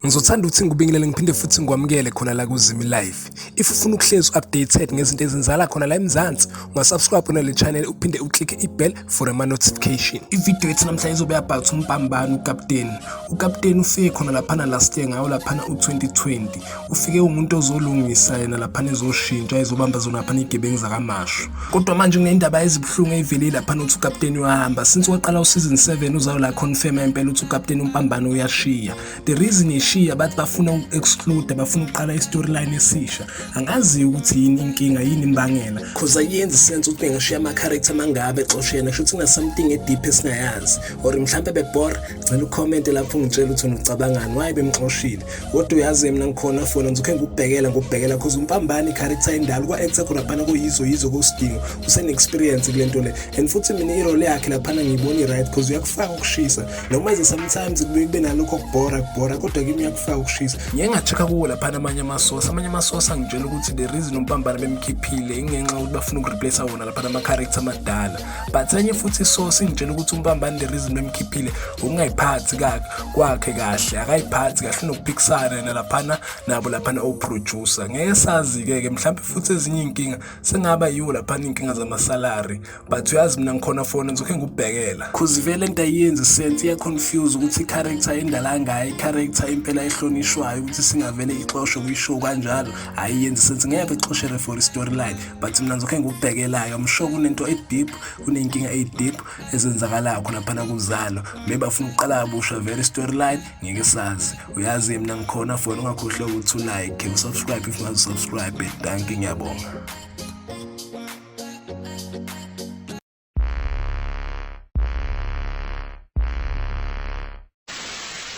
Ngizothanda ukuthi ngikubingelele ngiphinde futhi ngikwamukele khona la kuZimi Life. If ufuna ukuhlezi updated ngezinto ezenzala khona la eMzansi, ungasubscribe kona le channel uphinde uclick ibell for ama notification. Ivideo yethu namhlanje izobe about umbambani ukapteni. Ukapteni ufike khona laphana last year ngawo laphana u2020. ufike umuntu ozolungisa yena laphana ezoshintsha ezobamba zona laphana iy'gebengu zakamashu kodwa manje kunendaba ezibuhlungu eyivele laphana ukuthi ukapteni uyahamba since waqala useason 7 uzayo la confirma impela ukuthi ukapteni umpambano uyashiya the reason ishiya bathi bafuna uku-exclude bafuna ukuqala i-storyline esisha angaziyo ukuthi yini inkinga yini imbangela cause ayenzi sense ukuthi bengashiya ama-character mangabe exoshe yena kusho ukuthi kunasamething ediphi esingayazi or mhlawumpe bebor ngicela ukhomente lapho ungitshela ukuthi unicabangani waye bemxoshile kodwa uyazi mina ngikhona fona ngizokhe ngikubhekela ngikubhekela cause umpambani i-character endala kwa-actor khuraphana kuyizo yizo kosidingo usene-experience kule nto le and futhi mina irole yakhe laphana ngiyibona i-right cause uyakufaka ukushisa noma ize sometimes kubuye kube nalokho okubhora kubhora kodwa kimi uyakufaka ukushisa ngiye ngacheck-a kuwo laphana amanye amasosa amanye amasosa angitshela ukuthi the reason umpambana bemkhiphile ingenxa yokuthi bafuna ukureplace wona laphana ama-character amadala but enye futhi isource ingitshela ukuthi umbambani the reason bemkhiphile ukungayiphathi kwakhe kahle akayiphathi kahle unokuphikisana yena laphana nabo laphana oproducer ngeke sazi-ke ke mhlawumbe futhi ezinye iy'nkinga sengaba yiwo laphana iy'nkinga zamasalari but uyazi mina ngikhona fona ngizokhe ngikubhekela cause vele into ayiyenzi sense iyaconfuse ukuthi i-character endala ngayo i-character impela ehlonishwayo ukuthi singavele ixoshwe kuyishow kanjalo ayiyenzi sense ngeke ixoshere for i-storyline but mina ngizokhe ngikubhekelayo i'm sure kunento e-deep kuney'nkinga eyi-deep ezenzakalayo khonaphana kuzalo maybe bafuna ukuqala kabusha very storyline ngeke sazi uyazi mina ngikhona fona ungakhohlwa ukuthi ulike usubscribe if ungazisubscribe danki ngiyabonga